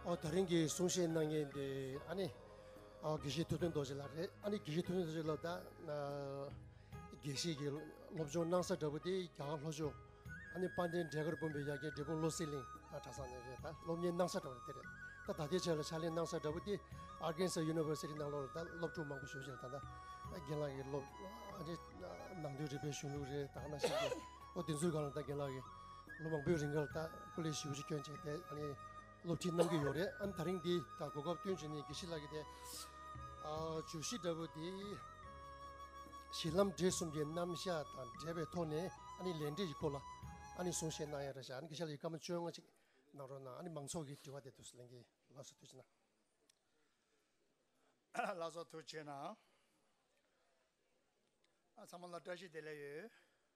ཨོ་ད་རིང་གི་གསུང་བཤད་གནང་མཁན་དེ་ཨ་ནི་དགེ་བཤེས་ཐུབ་བསྟན་རྡོ་རྗེ་ལགས་རེད་ཨ་ནི་དགེ་བཤེས་ཐུབ་བསྟན་རྡོ་རྗེ་ལགས་ད་དགེ་བཤེས་ཀྱི་སློབ་སྦྱོང་གནང་ས་འདྲ་པོ་དེ་རྒྱ་གར་ལྷོ་ཕྱོགས་ཨ་ནི་དཔལ་ལྡན་འབྲས་གར་བུམ་པའི་ཡ་གྱལ་འབྲས་སྤུངས་བློ་གསལ་གླིང་ཨ་གྲྭ་ས་ནས་རེད་ད་སློབ་གཉེར་གནང་ས་འདྲ་པོ་དེ་རེད་ད་ད་ལྟའི་ཆར་ལ་ཕྱག་ལེན་གནང་ས་འདྲ་པོ་དེ་ཨར་གན་སཱ་ཡུ་ནི་ཝེར་སི་ཏི་ནང་ལོགས་ལ་ད་སློབ་ཕྲུག་མང་པོ་ཞོལ་ཕྱིར་ད་ད་རྒན་ལགས་ཀྱི་སློབ་ཨ་ནི་ནང་དོན་རིག་པའི་གཞུང་ལུགས་རེད་ད་གནང་བཞིན་འདུག་ཨོ་དེ་ཚོའི་སྒང་ལ་ད་རྒན་ལགས་ཀྱི་ལོ་མང་པོའི་རིང་ཁར་ལྟ་སྐུ་ལས་བཞི་བཅུ་བསྐྱོན་བྱས་ཏེ་སློབ་ཁྲིད་གནང་གི་ཡོད་རེད་ཨང་ད་རིང་འདི་ད་གོ་སྐབས་བསྟུན་བྱས་ནས་དགེ་བཤེས་ལགས་ཀྱི་དེ་བརྗོད་གཞི་འདྲ་བོ་དེ་གཞི་ལམ་འབྲས་གསུམ་གྱི་རྣམ་གཞག་དང་འབྲེལ་བའི་ཐོག་ནས་ལས་འབྲས་ཀྱི་སྐོར་ལ་གསུང་བཤད་གནང་ཡ་རེད་བཞག་དགེ་བཤེས་ལགས་ཀྱི་བཀའ་མོལ་བཅོ་ལྔ་ཅིག་གནང་རོགས་གནང་མང་ཚོགས་ཀྱི་དྲི་བ་དེ་དུས་སུ་ལེན་གྱི་ལགས་སོ་དུས་ཆེ་ན། ལགས་སོ་དུས་ཆེ་ན། ཚང་མ་ལ་བཀྲ་ཤིས་བདེ་ལེགས་ཡོད།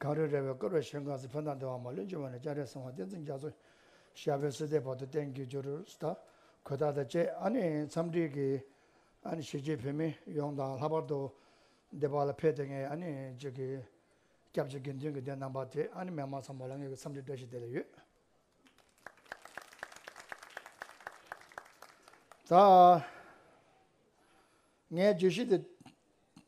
གངས་རི་རལ་བའི་སྐོར་བའི་ཞིང་ཁམས་སུ་བོད་ནང་སྡེ་བ་མ་ལོན་ཅུང་བ་ནས་སྐྱ་རེངས་སྲིང་བ་བསྟན་འཛིན་རྒྱ་མཚོ། ཞབས་པད་བསིལ་ལྡན་བར་དུ་བསྟན་འགྱུར་ཇོ་རུ་ཟླ། གོས་དར་དང་བཅས་འཚམས་འདྲིའི་གཞིས་བྱེས་བོད་མི་ཡོངས་དང་ལྷག་པར་དུ་སྡེ་བ་ལ་ཕེབས་ཏེ་ངའི་སྐྱབས་བཅོལ་དགེ་འདུན་གྱི་སྡེ་རྣམ་པ་དེ་མི་མང་ཚང་མ་ལ་ངེད་ཀྱི་འཚམས་འདྲི་བཀྲ་ཤིས་བདེ་ལེགས་ཡོད། ད་ངས་བརྗོད་གཞི་དེ་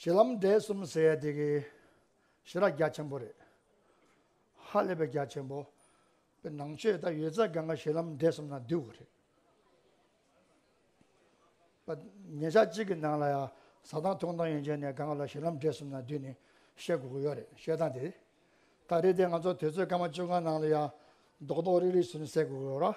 ཞེ་ལམ་འབྲས་གསུམ་ཟེར་ཡ་དེ་གི་ཞེ་རགས་རྒྱ་ཆེན་པོ་རེད། ཧ་ལས་པའི་རྒྱ་ཆེན་པོ། པའི་ནང་ཆོས་དང་ཡོད་ཚད་གང་ག་ཞེ་ལམ་འབྲས་གསུམ་ན་བསྡུས་བ་རེད། པ། ཉེ་ཆར་གཅིག་གི་ནང་ལ་ཡང་ཟ་ཐང་འཐུང་ཐང་ཡོན་ཅན་ནས་གང་ག་ལ་ཞེ་ལམ་འབྲས་གསུམ་ན་བསྡུས་ནས་བཤད་དགོས་ཀྱི་ཡོད་རེད་བཤད་སྟངས་དེ་ལྟར་རེད་དེ་ང་ཚོ་དུས་ཚོད་སྐར་མ་བཅོ་ལྔ་ནང་ལ་ཡང་རྡོག་རྡོག་རིག་རིག་ཟུར་ཟས་དགོས་ཀྱི་ཡོད་ར།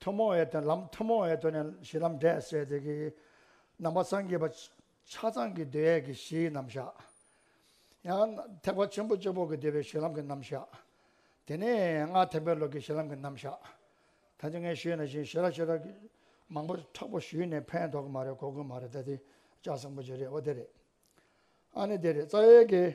ཐུན་མོང་བའི་དོན་ལམ་ཐུན་མོང་བའི་དོན་ནི་གཞི་ལམ་འབྲས་བསལ་ཏེ། ནང་པ་སངས་རྒྱས་པ། ཆ་ཚང་གི་འདོད་ཡལ་གྱི་གཞིའི་རྣམ་བཞག། ཡང་ཐེག་པ་ཆེན་པོ་བཅུ་པོ་གི་འདོད་པའི་གཞི་ལམ་གྱི་རྣམ་བཞག། དེ་ནས་སྔ་ཐེག་པའི་ལུགས་ཀྱི་གཞི་ལམ་གྱི་རྣམ་བཞག། ད་ཅི་ངས་ཞུས་ན་བཞིན་ཞེས་ར་ཤི་ར། མང་པོ་ཁྲག་པོ་ཞུས་ནས་ཕན་ཐོག་གི་མ་རེད་གོ་དགོས་མ་རེད་ད་དེ་ལྕགས་སྲིན་པོ་ཅི་རེད་འོ་དེ་རེད། ཨ་ནི་དེ་རེད་རྩ་བའི་གེ།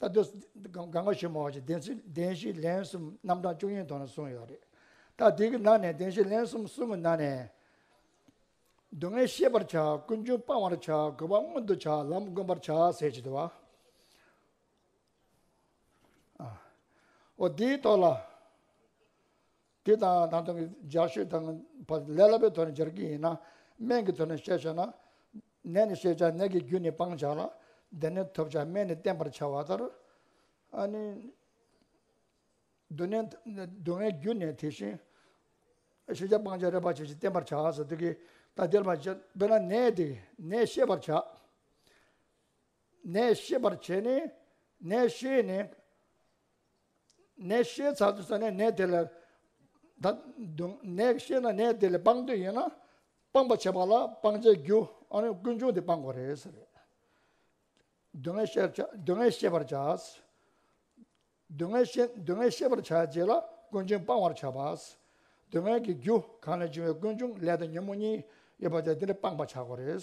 ལྟ་དུས་སྒང་སྒང་ཞིག་མོ་ཞིག་བདེན་བཞི་ལན་གསུམ་རྣམ་གྲངས་བཅུ་གཉིས་ཐོག་ནས་གསུངས་ཡོད་རེད་ད་དེ་གི་ནང་ནས་བདེན་བཞི་ལན་གསུམ་གསུངས་གི་ནང་ནས། སྡུག་བསྔལ་ཤེས་པར་བྱ་ཀུན་འབྱུང་སྤང་བར་བྱ་དགོས་པ་མངོན་དུ་བྱ་ལམ་བསྒོམ་པར་བྱ་ཟེར་བྱེད་དུ་བ། འོ་དེའི་ཐོག་ལ། དེ་དང་ད་དུང་སྦྱར་ཤོས་དང་བ་ལས་ལ་བའི་དོན་སྦྱར་གྱི་ཡིན་ན། སྨན་གྱི་དོན་ནས་བཤད་བྱ་ན། ནད་ནི་ཤེས་བྱ་ནད་ཀྱི་རྒྱུ་ནི་སྤང་བྱ་ལ། བདེ་ནི་ཐོབ་བྱ་སྨན་ནི་བསྟེན་པར་བྱ་བ་ལྟར། སྡུག་ནི་སྡུག་བསྔལ་རྒྱུ་ནི་དེ་བཞིན། ཤེས་བྱ་སྤང་བྱ་རེ་བ་བྱེད་ཅིང་བསྟེན་པར་བྱ་ཟེར་དུས་ཀྱི། ད་དེར་མ་བྱས་དཔེར་ན་ནད་དེ་ནད་ཤེས་པར་བྱ། ནད་ཤེས་པར་བྱས་ནས་ནད་ཤེས་ནས། ནད་ཤེས་ཚར་དུས་ས་ནས་ནད་དེ་ལ་ད་དུང་ནད་ཤེས་ན་ནད་དེ་ལས་སྤང་འདོད་ཡོད་ན། སྤང་པར་བྱེད་པ་ལ་སྤང་བྱའི་རྒྱུ་ཨ་རུན་ཀུན་འབྱུང་དེ་སྤང་དགོས་རེད་ཟེར། སྡུག་བསྔལ་ཤེས་བྱ་སྡུག་བསྔལ་ཤེས་པར་བྱ། སྡུག་བསྔལ་ཤེས་སྡུག་བསྔལ་ཤེས་པར་བྱ་རྗེས་ལ་ཀུན་འབྱུང་སྤང་བར་བྱ། སྡུག་བསྔལ་གྱི་རྒྱུ་གང་ལས་བྱུང་བའི་ཀུན་འབྱུང་ལས་དང་ཉོན་མོངས་གཉིས་ཡོད་པ་དེ་འདི་ལས་སྤང་བར་བྱ་དགོས་རེད།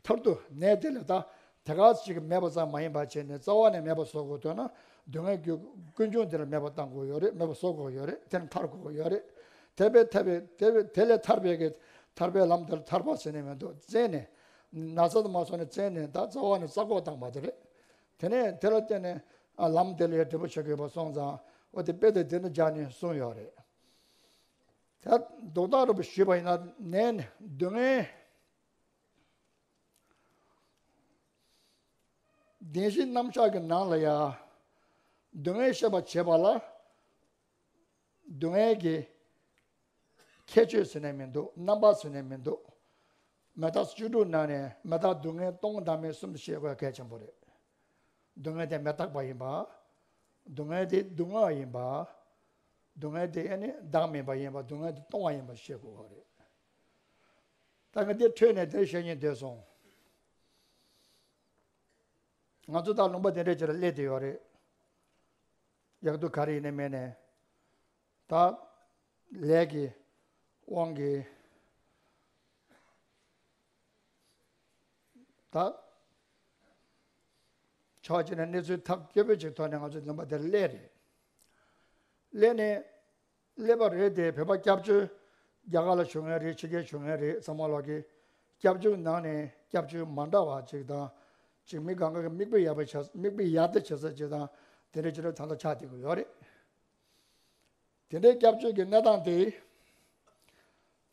མཐར་ཐུག་གནས་དེ་ལས་ཐ་དད་ཁག་ཅིག་མེད་པ་ཙམ་མ་ཡིན་པར་བྱས་ནས་རྩ་བ་ནས་མེད་པར་བཟོ་དགོས་དོན་ན་སྡུག་བསྔལ་གྱི་ཀུན་འབྱུང་དེ་ལ་མེད་པར་བཏང་དགོས་ཡོད་རེད་མེད་པར་བཟོ་དགོས་ཡོད་རེད་དེ་ལས་ཐར་དགོས་ཡོད་རེད། དེ་བས་ཐར་པའི་དེ་ལས་ཐར་པའི་གེགས་ཐར་པའི་ལམ་དེར་ཐར་པ་ཟེར་ནི་མི་འདུག་བཙལ་ནས་ན་ཚ་དུ་མ་བཟོ་ནས་བཙལ་ནས་ད་རྩ་བ་ནས་རྩ་འགོག་བཏང་བ་དེ་རེད། དེ་ནས་དེ་ལ་བརྟེན་ནས་ལམ་དེ་ལས་འབྲས་བུ་ཆེ་གེ་བ་སོང་ཙང་འོ་དེ་དཔེ་དེ་དེ་ནས་སྦྱར་ནས་གསུངས་ཡོད་རེད། དེ་ལྡོག་ལྟ་རུ་ཞུས་པ་ཡིན་ན་ནས་སྡུག་བསྔལ། བདེན་བཞི་རྣམ་གཞག་གི་ནང་ལ་ཡང། སྡུག་བསྔལ་ཤེས་པར་བྱེད་པ་ལ། སྡུག་བསྔལ་གྱི་ཁྱད་ཆོས་ཟེར་ནས་མི་འདུག་རྣམ་པ་ཟེར་ནས་མི་འདུག་མེ་སྟག་བཅུ་དྲུག་ནང་ནས་མེ་སྟག་སྡུག་བསྔལ་སྟོང་དང་མེད་གསུམ་ཞེས་བཀོད་གལ་ཆེན་པོ་རེད། སྡུག་བསྔལ་དེ་མེ་སྟག་པ་ཡིན་པ། སྡུག་བསྔལ་དེ་སྡུག་བསྔལ་ཡིན་པ། སྡུག་བསྔལ་དེ་བདག་མིན་པ་ཡིན་པ་སྡུག་བསྔལ་དེ་སྟོང་བ་ཡིན་པ་ཤེས་དགོས་པ་རེད། ད་ངས་དེ་ཐོས་ནས་དེར་བཤད་ཉན་འདོད་སོང། ང་ཚོ་དང་ལུང་པ་དེ་འདྲ་བྱེད་ལ་སླེ་དེ་ཡོད་རེད། ཡག་དུ་ག་རེ་ཡིན་ནས་མེད་ནས། ད། ལས་ཀྱི། དབང་གིས། ད། ཆོག་བྱས་ནས་གནས་ཚུལ་ཐག་སྐྱོ་པོ་ཅིག་ཐོག་ནས་ང་ཚོ་ལུང་པ་དེར་སླེ་རེད། སླེ་ནས། ཀླད་པ་རེད་དེ་བོད་པ་སྐྱབས་བཅོལ་རྒྱ་གར་ལ་བྱོན་མཁན་རེད་ཕྱི་རྒྱལ་བྱོན་མཁན་རེད་ཚང་མ་ལགས་ཀྱི། སྐྱབས་བཅོལ་ནང་ནས་སྐྱབས་བཅོལ་མ་འདྲ་བ་ཅིག་དང། ཅིག་མི་གང་ག་གི་མིག་དཔེ་ཡག་པའི་ཆ་མིག་དཔེ་ཡག་ཏེ་བྱེད་ས་ཅིག་དང་དེ་འདྲའི་ཆེད་ལས་ཚང་དང་ཆ་དེ་གི་ཡོད་རེད། དེ་འདྲའི་སྐྱབས་བཅོལ་གྱི་གནས་སྟངས་དེ།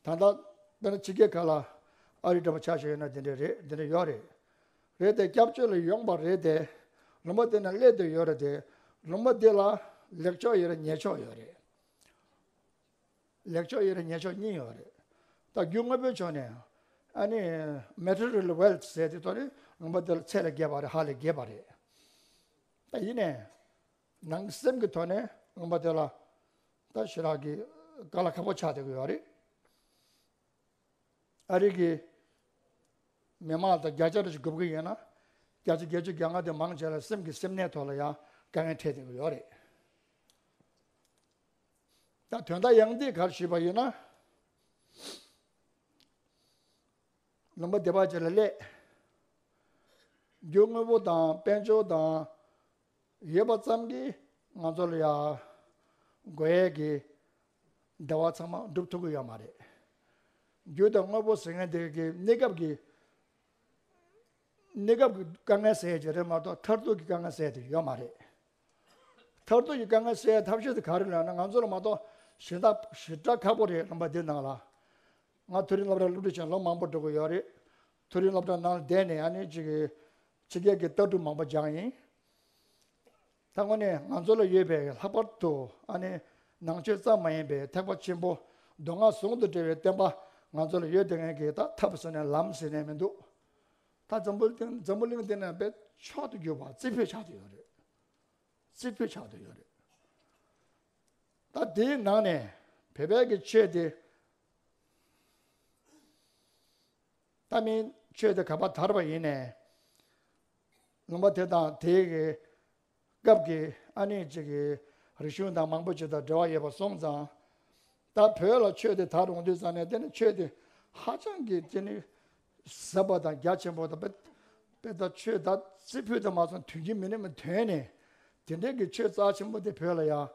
དང་ཐོག་འདི་ནི་ཕྱི་རྒྱལ་ཁག་ལ་ཨ་རིའི་འདྲ་པར་ཆགས་བཞིན་ཡོད་ན་འདི་འདྲའི་རེད་འདི་འདྲའི་ཡོད་རེད། རེད་དེ་སྐྱབས་བཅོལ་ལ་ཡོང་པ་རེད་དེ། ལུང་པ་འདི་ནས་སླེབས་འདོད་ཡོད་རེད་དེ། ལུང་པ་འདི་ལ་ལེགས་ཕྱོགས་ཡོད་རེད་ཉེས་ཕྱོགས་ཡོད་རེད། ལེགས་ཕྱོགས་ཡོད་རེད་ཉེས་ཕྱོགས་གཉིས་ཡོད་རེད། ད་རྒྱུ་དངོས་པོའི་ཕྱོགས་ནས་ཨ་ནི Material Wealth ཟེར་དེ་དོན་ནི་ལུང་པ་འདི་ལ་ཚད་ལས་བརྒལ་བ་རེད་ཧ་ལས་བརྒལ་བ་རེད། ད་ཡིན་ནས། ནང་གི་སེམས་ཀྱི་ཐོག་ནས་ངོམ་པ་དེ་ལ་ད་ཞི་རག་གི་ཀ་ལ་ཁ་པོ་ཆགས་བསྡད་ཀྱི་ཡོད་རེད། ཨ་རིག་གི་མི་དམངས་དང་རྒྱ་ཆ་རུ་ཞིག་དགོས་ཀྱི་ཡོད་ན་རྒྱ་ཆ་བརྒྱད་ཅུ་གྱ་ལྔ་དེ་མང་ཆེ་ལ་སེམས་ཀྱི་སེམས་ནད་ཐོག་ལ་ཡང་དཀའ་ངལ་འཕྲད་བསྡད་ཀྱི་ཡོད་རེད། ད་དོན་དག་ཡང་འདི་གར་ཞུས་པ་ཡིན་ན། ལུང་པ་སྡེ་པ་བཅས་ལ་སླད་རྒྱུ་དངོས་པོ་དང་དཔལ་འབྱོར་དང། ཡོད་པ་ཙམ་གྱིས་ང་ཚོ་ལ་ཡང་དགོས་ཡས་ཀྱི་བདེ་བ་ཚང་མ་སྒྲུབ་ཐུབ་ཀྱི་ཡོད་མ་རེད། རྒྱུ་དང་དངོས་པོ་ཟེར་མཁན་དེ་གའི་གནས་སྐབས་ཀྱི་གནས་སྐབས་ཀྱི་དཀའ་ངལ་སེལ་བྱེད་རེད་མ་གཏོགས་མཐར་ཐུག་གི་དཀའ་ངལ་སེལ་ཐུབ་ཡོད་མ་རེད། མཐར་ཐུག་གི་དཀའ་ངལ་སེལ་ཐབས་ཤེས་དེ་ག་རེ་ལབ་ན་ང་ཚོ་ལ་མ་གཏོགས་གཞན་དག་ཞེ་དྲག་ཁག་པོ་རེད་ལབ་པ་དེ་ནང་ལ་ང་ཐུགས་རིང་ལབ་ར་སློབ་ཁྲིད་བྱེད་ལོ་མང་པོ་འགྲོ་གི་ཡོད་རེད། ཐུགས་རིང་སློབ་གྲྭ་ནང་བསྡད་ནས་ཡང་ནི་ཕྱི་རྒྱལ་གྱི་ལྟ་གྲུབ་མང་པོ་སྦྱངས་ཡིན། ད་དངོས་གནས་ང་ཚོ་ལ་ཡོད་པའི་ལྷག་པར་དུ་ཡང་ནི་ནང་ཆོས་ཙམ་མ་ཡིན་པའི་ཐེག་པ་ཆེན་པོ་མདོ་སྔགས་ཟུང་དུ་འབྲེལ་བའི་བསྟན་པ་ང་ཚོ་ལ་ཡོད་དེ་ངན་གྱི་ད་ཐབས་ཟེར་ནས་ལམ་ཟེར་ནས་མི་འདུག་ད་འཛམ་བུ་གླིང་འདི་ན་པད་ཕྱོགས་དུ་གྱུར་པ་རྩིས་འཕོད་ཆགས་དུ་ཡོད་རེད། རྩིས་འཕོད་ཆགས་དུ་ཡོད་རེད། ད་དེའི་ནང་ནས་བོད་པའི་གི་ཆོས་དེ། ལྟ་མིན་སྤྱོད་དེ་ག་པར་དར་བ་ཡིན། ལུང་པ་དེ་དང་དེའི་སྐབས་ཀྱི་ཨ་ནུས་གཅིག་གི་རིག་གཞུང་དང་མང་པོ་གཅིག་དང་འབྲེལ་བ་ཡོད་པ་སོང་ཙང། ད་བོད་ལ་ཆོས་དེ་དར་རུང་དུས་ཙམ་ནས་དེ་ནི་ཆོས་དེ་ཧ་ཅང་གི་བརྩི་ནུས་ཟབ་པ་དང་རྒྱ་ཆེན་པོ་དང། དཔེ་ལྟར་ཆོས་དར་རྩི་ཕུད་དུ་མ་སོང་དུས་ཀྱི་མི་རིགས་དོན་ནི་དེ་འདྲའི་གི་ཆོས་རྩ་ཆེན་པོ་དེ་བོད་ལ་ཡང་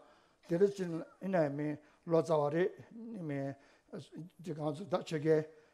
དེ་རིང་ཙམ་ནས་མིན་ལོ་ཙཱ་བ་རེ་གཉིས་མིན་གཅིག་གང་ཚུལ་ད་ཆོས་རྒྱལ་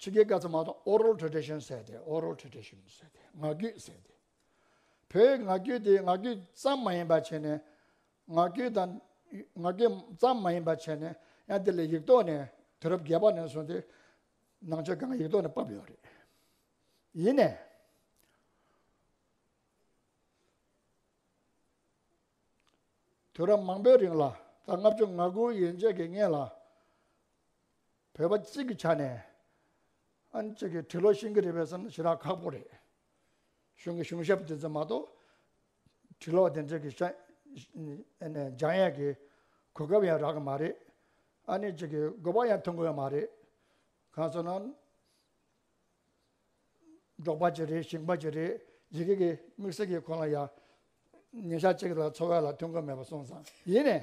ཕྱི་རྒྱལ་སྐད་ཚང་མ་དང Oral Tradition ཟེར་ཏེ Oral Tradition ཟེར་ཏེ་ངག་རྒྱུད་ཟེར་ཏེ། བོད་ངག་རྒྱུད་དེ་ངག་རྒྱུད་ཙམ་མ་ཡིན་པ་བྱས་ནས་ངག་རྒྱུད་དང་ངག་རྒྱུད་ཙམ་མ་ཡིན་པ་བྱས་ནས་ཡང་དེ་ལས་ཡིག་ཐོག་ནས་དུས་རབས་བརྒྱད་པ་ནས་བཟུང་སྟེ་ནང་ཆོས་གང་གི་ཡིག་ཐོག་ནས་བབས་ཡོད་རེད། ཡིན་ནས། དུས་རབས་མང་པོའི་རིང་ལ་ད་ལྔ་བཅུ་ང་དགུ་ཡན་ཆད་ཀྱི་སྔས་ལ། བོད་པ་གཅིག་གི་ཆ་ནས་ཨན་གཅིག་གི་གྲི་ལོ་ཤིང་གི་རི་བས་སམ་ཞི་རགས་ཁག་པོ་རེད། གཞུང་གི་གཞུང་ཞབས་དེ་ཚོ་མ་གཏོགས་གྲི་ལོ་དེ་འདྲ་གི་འཇང་ཡས་ཀྱི་གོ་སྐབས་ཡང་རག་གི་མ་རེད། ཨ་ནེ་གཅིག་གི་དགོས་པ་ཡང་ཐོན་གི་ཡོད་མ་རེད། གང་སོང་ན། འབྲོག་པ་གཅིག་རེད་ཞིང་པ་གཅིག་རེད་ཡི་གེ་གི་དམིགས་བསལ་གི་ཁོང་ལ་ཡང་ཉིན་ཞག་གཅིག་ལ་འཚོ་བ་ལ་ཐོན་གི་མེད་པ་སོང་ཙང་ཡིན།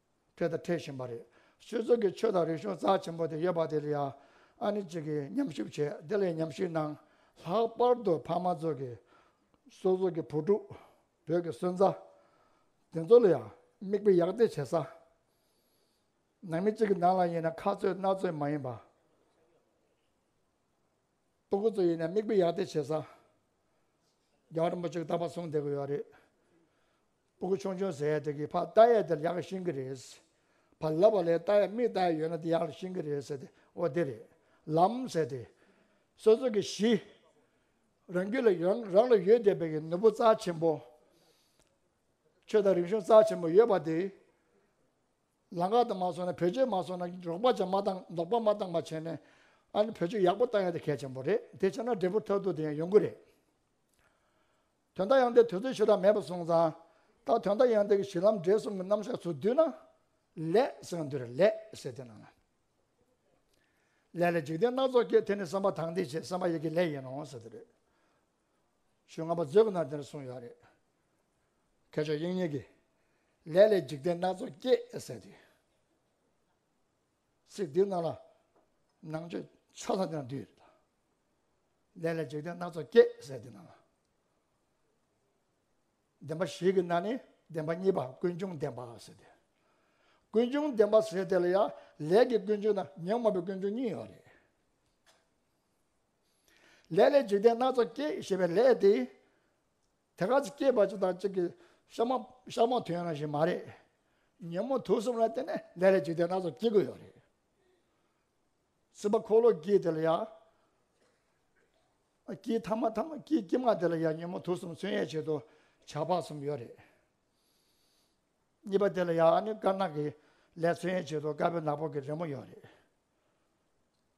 འཕྲད་དང་འཕྲད་བཞིན་པ་རེད། ཆོས་ཚོགས་ཀྱི་ཆོས་དང་རིག་གཞུང་རྩ་ཆེན་པོ་དེ་ཡོད་པ་དེ་ལ་ཡང་ཨ་ནི་གཅིག་གིས་ཉམས་ཞིབ་བྱས་དེ་ལས་ཉམས་ཞིབ་གནང། ལྷག་པར་དུ་ཕ་མ་ཚོ་གི། སོ་སོ་གི་བུ་ཕྲུག། བོད་ཀྱི་སོན་རྩ། དེ་ཚོ་ལ་ཡང་མིག་དཔེ་ཡག་བལྟས་བྱེད་ས། ནང་མི་གཅིག་གི་ནང་ལ་ཡིན་ན་ཁ་རྩོད་སྣ་རྩོད་མ་ཡིན་པ། སྤོ་གོ་ཚོ་ཡིན་ན་མིག་དཔེ་ཡག་བལྟས་བྱེད་ས། རྒྱ་གར་རིན་པོ་ཆེ་གདའ་བ་གསུངས་བསྡད་གི་ཡོད་རེད། སྤུ་གུ་ཆུང་ཆུང་ཟེར་ཡས་དེ་གི་ཕ་རྟ་ཡས་དེར་ཡག་ཤིང་གི་རེད། ཕ་ལབ་པ་ལས་རྟ་ཡས་མིག་རྟ་ཡས་ཡོད་ན་དེ་ཡག་ཤིང་གི་རེད་ཟེར་ཏེ་འོ་དེ་རེད་ལམ་ཟེར་ཏེ། སོ་སོ་གི་གཞི། རང་རྒྱུད་ལ་ཡོད་རང་ལ་ཡོད་བསྡད་པའི་གི་ནོར་བུ་རྩ་ཆེན་པོ། ཆོས་དང་རིག་གཞུང་རྩ་ཆེན་པོ་ཡོད་པ་དེ། ལང་ཀ་དང་མ་སོང་ན་བེད་སྤྱོད་མ་སོང་ན་འགྲོགས་པ་ཅང་མ་བཏང་འདོགས་པ་མ་བཏང་པ་བྱས་ནས། ཨ་ནི་བེད་སྤྱོད་ཡག་པོ་བཏང་ཡས་དེ་གལ་ཆེན་པོ་རེད་དེ་བྱས་ན་འབྲས་བུ་ཐོག་ཐུག་དེ་ཡང་ཡོང་གི་རེད། དོན་དག་ཡང་དེ་དུས་ཚོད་ཞེ་དྲག་མེད་པར་སོང་ཙང། ད་དོན་དག་ཡང་དེ་གི་གཞི་ལམ་འབྲས་གསུམ་གི་རྣམ་གཞག་ཚུར་བསྡུས་ན། ལས་ཟེར་བ་འདི་རུ་ལས་ཟེར་དེ་ན་ལ། ལས་ལ་འཇིག་རྟེན་སྣ་ཚོགས་སྐྱེ་དེ་ནི་བསམ་པ་དང་དེ་བྱེད་བསམ་པ་ཡི་གེ་ལས་ཡིན་ནོ་ཟེར་དེ་རེད། ཞུས་སྔ་མ་མཛོད་ཀྱི་ནང་དེ་འདྲ་གསུངས་ཡོད་རེད། མཁས་མཆོག་དབྱིངས་ཉིད་ཀྱིས། ལས་ལས་འཇིག་རྟེན་སྣ་ཚོགས་སྐྱེ་ཟེར་དུས། ཚེ་འདི་ན་ལ་ནང་བཅུད་ཆོས་ལྷ་ཀྱང་འདུས། ལས་ལས་འཇིག་རྟེན་སྣ་ཚོགས་སྐྱེས་ཟེར་འདི་ན་ལ། བདེན་པ་ཞིག་གི་ན་ནི་བདེན་པ་གཉིས་པ་ཀུན་འབྱུང་བདེན་པ་ཟེར་ཏེ། ཀུན་འབྱུང་བདེན་པ་ཟེར་དེ་ལ་ཡང་ལས་ཀྱི་ཀུན་འབྱུང་དང་ཉོན་མོངས་པའི་ཀུན་འབྱུང་གཉིས་ཡོད་རེད། ལས་ལས་འཇིག་རྟེན་སྣ་ཚོགས་སྐྱེས་ཞེས་པའི་ལས་དེ། དེ་ག་ཚོད་སྐྱེས་པ་གཅིག་དང་གཅིག་གི་ཤ་མོ་ཤ་མོ་དོན་རང་བཞིན་མ་རེད། ཉིན་མོ་དུས་གསུམ་ལ་བརྟེན་ནས་ལས་ལས་འཇིག་རྟེན་སྣ་ཚོགས་སྐྱེ་དགོས་ཡོད་རེད། སྲིད་པ་འཁོར་ལོ་སྐྱིད་དེ་ལ་ཡ། སྐྱིད་ཐ་མ་ཐ་མ་སྐྱིད་སྐྱིད་མ་དེ་ལ་ཡ་ཉིན་མོ་དུས་གསུམ་ཚུན་ཡས་བྱེད་དུ་བྱ་བ་གསུམ་ཡོད་རེད། གཉིས་པ་དེ་ལ་ཡ་ནི་དཀར་ནག་གི་ལས་ཚུན་ཡས་བྱེད་དུ་དཀར་པོའི་ནག་པོ་གི་རི་མོ་ཡོད་རེད།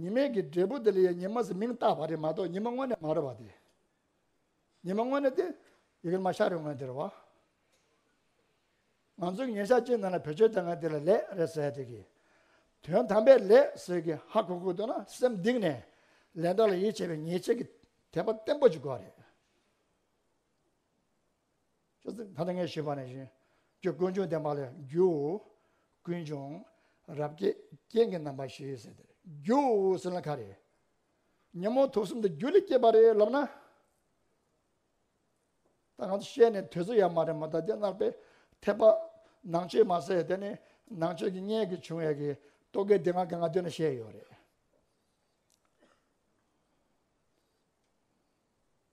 ཉི་མའི་གི་འབྲས་བུ་དེ་ལ་ཡང་ཉི་མ་ཟེར་མིང་བཏགས་པ་རེད་མ་གཏོགས་ཉི་མ་དངོས་གནས་མ་རེད་བ་དེ། ཉི་མ་དངོས་གནས་དེ་ཡི་གེར་མ་ཤར་རེད་ངོས་འདིར་བ། ང་ཚོའི་ཉིན་ཞག་གཅིག་ནང་ལ་བེད་སྤྱོད་བཏང་མཁན་དེ་ལ་ལེགས་རེད་ཟེར་དེ་གི། དོན་དམ་པའི་ལེགས་ཟེར་གི་ཧ་གོ་གོ་འདུག་ན་སེམས་གདིང་ནས་ལས་འདོགས་ལ་ཡིད་ཆེས་པའི་ཉེས་ཆད་ཀྱི་དད་པ་བརྟན་པོ་ཅིག་དགོས་རེད། ད་ངས་ཞུས་པ་ནི་བཞིན་གྱི་དཀོན་མཆོག་འདི་མ་ལ་རྒྱུའོ། ཀུན་འབྱུང་རབ་རྒྱས་རྐྱེན་གྱི་རྣམ་པ་ཞེས་ཟེར་ཏེ་རྒྱུའོ་ཟེར་ན་ཁ་རེད། ཉོན་མོངས་དུག་གསུམ་འདི་རྒྱུ་ལས་སྐྱེས་པ་རེད་ལབ་ན། ད་ང་ཚོ་བཤད་ནས་དུས་ཚོད་ཡར་མ་རེད་མོད་ད་ལྟའི་སྣང་བའི་འཐད་པ། ནང་ཆོས་མ་ཟད་དེ་ནི་ནང་ཆོས་ཀྱི་བརྙན་གྱི་བྱུང་བའི་གི་རྟོག་གེ་འདི་ང་གི་ང་དུས་ན་བཤད་ཡོད་རེད།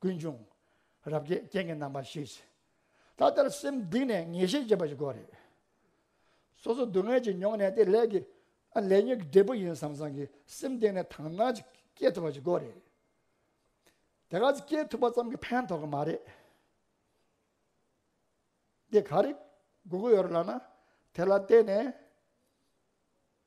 ཀུན་འབྱུང། རབ་རྒྱས་རྐྱེན་གྱི་རྣམ་པར་ཤེས། ད་ལྟར་སེམས་སྡིག་ནས་ངེས་ཤེས་བསྐྱེད་པ་གོ་རེ། སོ་སོ་སྡུག་བསྔལ་གྱིས་མྱོང་ནས་དེ་ལས་ཀྱི། ལས་ཉོན་གྱི་འབྲས་བུ་ཡིན་བསམ་བསམ་གྱི་སེམས་སྡིག་ནས་དག་སྣང་གཅིག་སྐྱེས་ཐུབ་པ་གོ་རེ། དེ་ག་ཚོད་སྐྱེས་ཐུབ་པ་ཙམ་གྱིས་ཕན་ཐོགས་ཀྱི་མ་རེད། དེ་ག་རེ་དགོས་ཀྱི་ཡོད་རེད་ལགས་ན་དེ་ལ་བལྟས་ནས།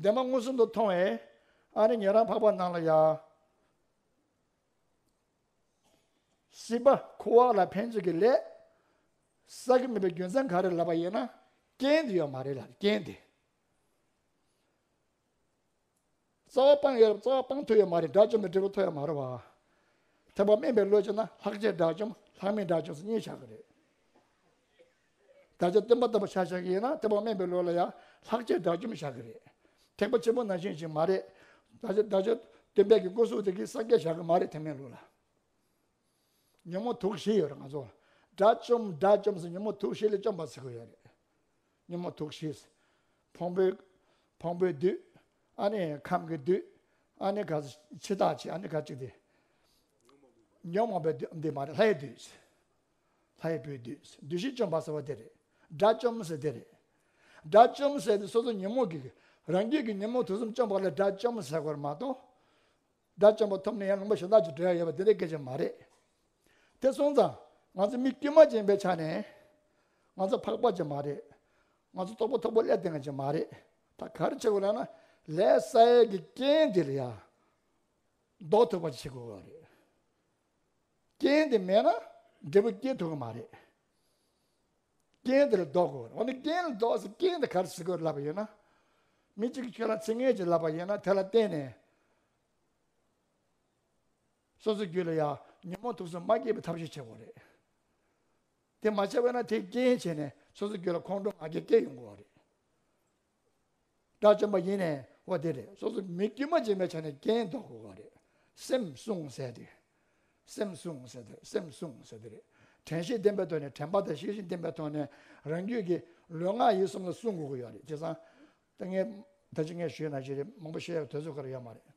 འདས་མ་མངོན་སུམ་དུ་མཐོང་བས་ཨ་རེ་ངེད་རང་འཕགས་པ་ནང་ལ་ཡ། སྲིད་པ་ཁུ་བ་ལ་ཕན་ཚུན་གྱི་ལས། བསགས་ཀྱི་མེད་པའི་རྒྱུ་མཚན་ག་རེ་ལབ་པ་ཡིན་ན་རྐྱེན་དེ་ཡོད་མ་རེད་ལ་རྐྱེན་དེ། རྩ་བ་སྤངས་ཡོད་རབས་རྩ་བ་སྤངས་ཐུབ་ཡོད་མ་རེད་དགྲ་བཅོམ་པའི་འབྲས་བུ་ཐོབ་ཡོད་མ་རེད་བ། ཐེག་པ་དམན་པའི་བློས་བྱས་ན་ལྷག་བཅས་དགྲ་བཅོམ་ལྷག་མེད་དགྲ་བཅོམ་སོ་གཉིས་ཆགས་ཀྱི་རེད། བདག་ཅག་སྟོན་པ་ལྟ་བུ་བྱ་བྱ་གི་ཡིན་ན་ཐེག་པ་དམན་པའི་བློ་ལ་ཡང་ལྷག་ཆད་དགྲ་བཅོམ་བྱ་གི་རེད། ཐེག་པ་ཆེན་པོ་ནང་བཞིན་ཞིག་མ་རེད། བདག་ཅག་བདག་ཅག་སྟོན་པས་གི་སྐུ་གཟུགས་དེ་གིས་སངས་རྒྱས་བྱ་གི་མ་རེད་ཐེག་དམན་ལུགས་ལ། ཉོན་མོངས་དུག་བཞི་ཡོད་རེད་ང་ཚོ་ལ། དགྲ་བཅོམ་དགྲ་བཅོམ་ཟེར་ཉོན་མོངས་དུག་བཞི་ལས་བཅོམ་པ་ཟེར་གི་ཡོད་རེད། ཉོན་མོངས་དུག་བཞི། ཕུང་པོའི། ཕུང་པོའི་བདུད། ཨ་ནི་ཁམས་ཀྱི་བདུད། ཨ་ནི་ག་ཕྱི་ཐག་ཆད་ཨ་ནི་ག་ཅིག་དེ། ཉོན་མོངས་པའི་བདུད་འདི་མ་རེད་ལྷའི་བདུད། ལྷ་ཡི་བུའི་བདུད། བདུད་བཞི་བཅོམ་པ་ཟེར་བ་དེ་རེད། དགྲ་བཅོམ་ཟེར་དེ་རེད། དགྲ་བཅོམ་ཟེར་དེ་སོ་སོ་ཉོན་མོངས་ཀྱི། རང་རྒྱུད་ཀྱི་ཉོན་མོངས་དུག་གསུམ་བཅོམ་པ་ལ་དགྲ་བཅོམ་ཟེར་བར་མ་གཏོགས། དགྲ་བཅོམ་པ་ཐོབ་ནས་ཡང་ལུང་པ་གཞན་དག་ཅིག་འབྲི་ཡ་ཡོད་པ་དེ་འདྲའི་སྐད་ཆ་མ་རེད། དེ་སོང་ཙང་ང་ཚོ་མི་དཀྱུས་མ་ཅན་པའི་ཆ་ནས། ང་ཚོ་འཕགས་པ་ཅན་མ་རེད། ང་ཚོ་རྟོགས་པ་མཐོ་པོ་ཀླད་ལྡན་ཅན་མ་རེད། ད་གར་བྱེད་དགོས་ལགས་ན། ལས་ས་ཡལ་གྱི་རྐྱེན་འདི་ལ་ཡང། ལྡོག་ཐུབ་པ་ཅིག་བྱེད་དགོས་ཀྱི་རེད། རྐྱེན་དེ་མེད་ན་འབྲས་བུ་སྐྱེ་ཐུབ་ཀྱི་མ་རེད། རྐྱེན་དེ་ལ་ལྡོག་དགོས། འོ་ན་རྐྱེན་ལ་ལྡོག་ཟེར་རྐྱེན་དེ་གར་ཞི་དགོས་ལབ་པ་ཡིན་ན། མི་གཅིག་གིས་ཁྱོད་ལ་ཚིག་ངན་གཅིག་ལབ་པ་ཡིན་ན་དེ་ལ་བརྟེན་ནས། སོ་སོའི་རྒྱུད་ལ་ཡང་ཉོན་མོངས་དུག་གསུམ་མ་སྐྱེས་པའི་ཐབས་ཤེས་བྱེད་དགོས་རེད། དེ་མ་བྱས་པས་ན་དེས་རྐྱེན་བྱས་ནས་སོ་སོའི་རྒྱུད་ལ་ཁོང་ཁྲོ་ང་རྒྱལ་སྐྱེ་ཡོང་དགོས་རེད། དགྲ་བཅོམ་པ་ཡིན་ནས་ཨོ་དེ་རེད་སོ་སོ་མི་དཀྱུས་མ་བྱེད་མའི་ཆ་ནས་རྐྱེན་ཟློག་དགོས་པ་རེད། སེམས་བསྲུང་ཟེར་དེ། སེམས་བསྲུང་ཟེར་དེ་སེམས་བསྲུང་ཟེར་དེ་རེད། དྲན་ཤེས་བརྟན་པོའི་ཐོག་ནས་དྲན་པ་དང་ཤེས་ཤིང་བརྟན་པའི་ཐོག་ནས་རང་རྒྱུད་ཀྱི་ལུས་ངག་ཡིད་གསུམ་ལ་བསྲུང་དགོས་ཀྱི་ཡོད་རེད་ཅེས་སང་ད་ངས་ད་ཅི་ངས་ཞུས་ན་ཅི་རེད་མང་པོ་བཤད་ཡོད་དོལ་ཚོད་ག་རེ་ཡོད་མ་རེད།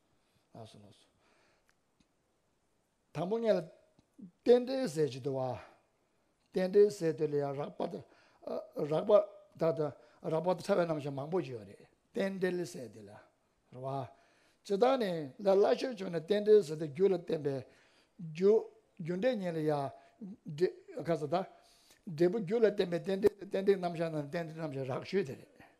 དང་པོ་ལྔས་ལ། རྟེན་འབྲེལ་ཟས་ཀྱི་དུ་བ། རྟེན་འབྲེལ་ཟས་དེ་ལ་ཡང་རགས་པ་དང། རགས་པ་དང་དང། རགས་པ་དང་ཕྲ་བའི་རྣམ་གཞག་མང་པོ་ཞིག་ཡོད་རེད། རྟེན་འབྲེལ་ཟས་དེ་ལ། རེད་བ། ཇི་ལྟར་ནི། ལ་སླ་ཆོས་ཆོས་ནི་རྟེན་འབྲེལ་ཟས་དེ་རྒྱུ་ལ་བརྟེན་པའི། རྒྱུ། རྒྱུ་འབྲས་ཉིད་ལ་ཡང། འབྲས། ཁ་ཟས་དང། འབྲས་བུ་རྒྱུ་ལ་བརྟེན་པའི་རྟེན་འབྲེལ་ཟས་རྟེན་འབྲེལ་རྣམ་གཞག་ནི་རྟེན་འབྲེལ་རྣམ་གཞག་རགས་ཆོས་དེ་རེད།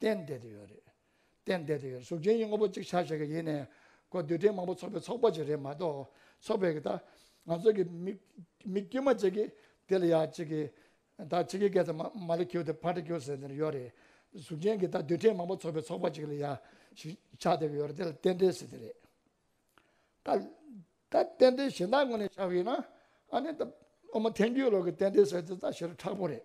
གཏན་བདེ་དུ་ཡོད་རེད། གཏན་བདེ་དུ་ཡོད་གཟུགས་ཅན་གྱི་དངོས་པོ་གཅིག་ཆགས་བྱེད་ཀྱི་ཡེ་ནས་སྒོ་འདུས་སྤྲིན་མང་པོ་ཚོགས་པའི་ཚོགས་པ་ཅིག་རེད་མ་གཏོགས་ཚོགས་པའི་གི་དང་ང་ཚོ་གི་མིག་དཀྱུས་མ་ཅིག་གིས་དེ་ལ་ཡ་གཅིག་གིས་ད་གཅིག་གིས་སྐད་ཚ་མ་ལ་ཁྱེའུ་དེ་ཕར་དྲི་ཁྱེའུ་ཟེར་དེ་ནི་ཡོད་རེད། གཟུགས་ཅན་གྱི་དང་འདུས་སྤྲིན་མང་པོ་ཚོགས་པའི་ཚོགས་པ་ཅིག་ལ་ཡ་ཞིག་ཆགས་བསྡད་ཀྱི་ཡོད་རེད་དེ་ལ་གཏན་བདེ་ཟེར་དེ་རེད། ད་ད་གཏན་བདེ་གཞན་དག་ངོས་ནས་བྱ་བ་ཡིན་ན་ཨ་ནི་ད་ཨོ་མ་ཐན་རྒྱུའི་ལོག་གི་གཏན་བདེ་ཟེར་དེ་ད་ཞེ་རུ་ཁྲག་པོ་རེད།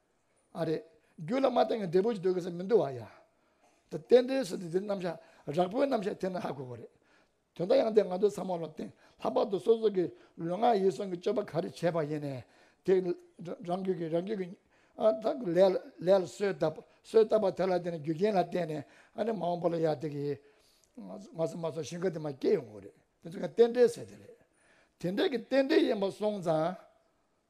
ཨ་རེད། རྒྱུད་ལ་མ་བསྟན་གྱི་འབྲས་བུ་ཅིག་འདོད་དགོས་ས་མི་འདུག་བ་ཡ། ད་རྟེན་འབྲེལ་ཟེར་དུས་འདིར་རྣམ་བཞག་རགས་པོའི་རྣམ་བཤད་ཐེབས་ན་ཧ་གོ་གོ་རེད། དོན་དག་ཡང་དེ་ང་ཚོའི་ཚང་མ་ལ་བརྟེན་ལྷག་པར་དུ་སོ་སོ་གི་ལུས་ངག་ཡིད་གསུམ་གྱི་སྤྱོད་པ་ག་རེ་བྱས་པ་ཡིན་ནས་དེ་རང་རྒྱུད་ཀྱི་རང་རྒྱུད་ཀྱི་ལས་ལ་སོས་བཏབ་སོས་བཏབ་པ་དེ་ལ་བརྟེན་ནས་རྒྱུ་རྐྱེན་ལ་བརྟེན་ནས་ཨ་ནི་མ་འོངས་པ་ལ་ཡ་དེ་གི་ང་ཚོ་མ་སོང་ཞིང་ཁ་དེ་མ་སྐྱེས་ཡོང་གོ་རེད་དེ་ཚོ་ག་རྟེན་འབྲེལ་ཟེར་དེ་རེད། དེ་འདྲ་གི་རྟེན་འབྲེལ་ཡིན་པ་སོང་ཙང་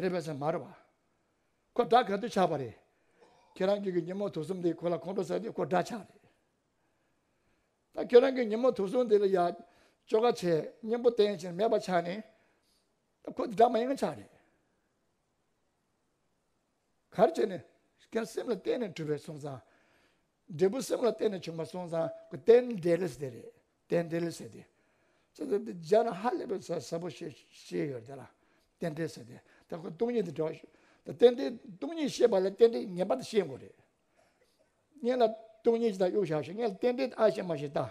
རེད་པས་སེམས་མར་བ། ཁོ་དགྲ་ག་དུས་ཆགས་པ་རེད། ཁྱེད་རང་གི་གི་ཉིན་མོ་ཐུགས་གསུམ་དེ་ཁོ་ལ་ཁོང་ཁྲོ་བསད་དུས་ཁོ་དགྲ་ཆགས་རེད། ད་ཁྱེད་རང་གི་ཉིན་མོ་ཐུགས་གསུམ་དེ་ལ་ཡ། ཅོ་ག་བྱས་སྙིང་པོ་བསྟན་ཕྱིར་མེད་པ་ཆགས་ནས། ད་ཁོ་དགྲ་མ་ཡང་ཆགས་རེད། གར་བྱས་ནས། ཀྱང་སེམས་ལ་བརྟེན་ནས་གྲུབ་པའི་སོང་ཙང། འབྲས་བུ་སེམས་ལ་བརྟེན་ནས་བྱུང་བ་སོང་ཙང་གི་རྟེན་འབྲེལ་ཟེར་རེད། རྟེན་འབྲེལ་ཟེར་ཏེ། ཙི་ཙི་འདི་སྦྱར་ན་ཧ་ལས་པའི་ཟབ་པོ་ཞེས་ཤེས་ཡོད་དེ་ལ་རྟེན་འབྲེལ་ཟེར་ཏེ། ད་ཁོ་སྟོང་ཉིད་དེ་འདྲ་བ་ཞིག་ད་རྟེན་འབྲེལ་སྟོང་ཉིད་ཤེས་པ་ལ་རྟེན་འབྲེལ་ངེས་པར་དུ་ཤེས་དགོས་རེད། ངེད་ལ་སྟོང་ཉིད་ཅིག་དང་གཡུག་བཞག་ཞིག་ངེད་ལ་རྟེན་འབྲེལ་ཨ་ཞེས་མ་ཞེས་བལྟ།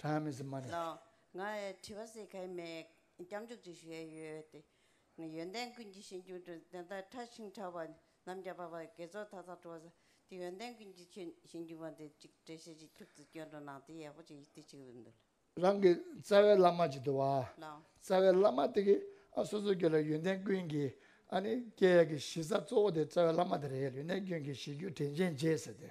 ཀྱི་ཡོད་པ་དང། ང་དྲི་བ་བསེ་གལ་མེད་སྐྱབས་འཇུག་ཅིག་བཞེས་ཡོད་དེ། ཡོན་ཏན་ཀུན་གྱི་ཞིང་བཅུ་དྲུག་དེ་ལྟར་ཕྲ་ཞིང་ཕྲ་བ་ནམ་མཁའ་འབབ་པ་དགེ་ཚོགས་མཐའ་དག་སྤྲོ་བ་ཟ་དེ་ཡོན་ཏན་ཀུན་གྱི་ཆོས་ཞིང་བཅུ་འབངས་དེ་གཅིག་བཀྲ་ཤིས་ཀྱི་ཁྱུག་ཏུ་སྐྱོན་འགྲོ་ནང་དེ་ཡག་པོ་ཅིག་ཡིད་ཏིག་ཅིག་འདུག། རང་གི་རྩ་བའི་བླ་མ་ཅིག་འདུག་བ། རྩ་བའི་བླ་མ་དེ་གིས་ཨ་སོ་སོ་ཁྱོད་ལ་ཡོན་ཏན་ཀུན་གྱི་ཨ་ནི་སྐྱེ་ཡག་གི་གཞི་རྩ་གཙོ་བོ་དེ་རྩ་བའི་བླ་མ་དེ་རེད་ཡོན་ཏན་ཀུན་གྱི་གཞི་རྒྱུ་དྲན་ཅན་རྗེས་ཟེར་དེ།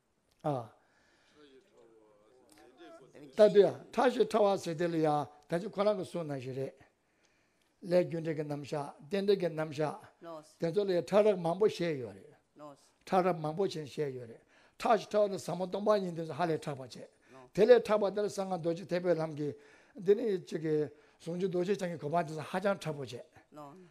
ལྟ་དུས། ཁྲ་ཞེས་ཁྲ་བ་ཟེར་དེ་ལ་ཡང་ད་ཅི་ཁོ་རང་གི་གསུང་རྣམས་ཞིག་རེད། ལས་རྒྱུ་འབྲས་ཀྱི་རྣམ་བཞག་རྟེན་འབྲེལ་གྱི་རྣམ་བཞག་དེ་ཚོ་ལ་ཡང་ཁྲ་རབས་མང་པོ་བཤད་ཡོད་རེད། ཁྲ་རབས་མང་པོ་ཞིག་བཤད་ཡོད་རེད། ཁྲ་ཞེས་ཁྲ་བ་ནི་ཟབ་མོ་སྟོང་པ་ཉིད་དེ་ཚོ་ཧ་ལས་ཕྲ་བར་བྱས། དེ་ལས་ཕྲ་བ་དེ་ལ་གསང་སྔགས་རྡོ་རྗེ་ཐེག་པའི་ལམ་གྱི། འདི་ནི་ཅི། ཟུང་འཇུག་རྡོ་རྗེ་འཆང་གི་གོ་འཕང་དེ་ཚོ་ཧ་ཅང་ཕྲ་བོ་བྱས།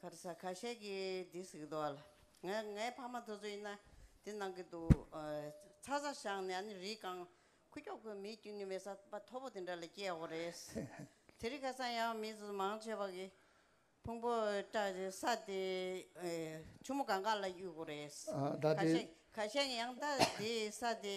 ཁར་ས་ཁ་ཤས་ཀྱིས་འདི་གཟིགས་འདུག་བ་ལ། ངའི་ཕ་མ་དེ་ཚོ་ཡིན་ན་འདི་གནང་གི་འདུག་ཚ་ས་བཤངས་ནས་ཨ་ནི་རིའི་སྒང་ཁུ་ཁྱོག་ཁོའི་མིའི་རྒྱུན་གྱི་མེ་ས་པ་མཐོ་པོ་དེ་འདྲ་ལ་སྐྱེས་ཡོང་བ་རེད། དེ་རིང་ཁ་སང་ཡང་མི་ཚོ་མང་ཆེ་བ་གིས་ཕུང་པོ་སྐྲག་ས་དེ་ཆུ་མོ་སྒང་ཁ་ལ་གཡུགས་པ་རེད། ཁ་ཤས་ཀྱིས་ཡང་ད་དེའི་ས་དེ།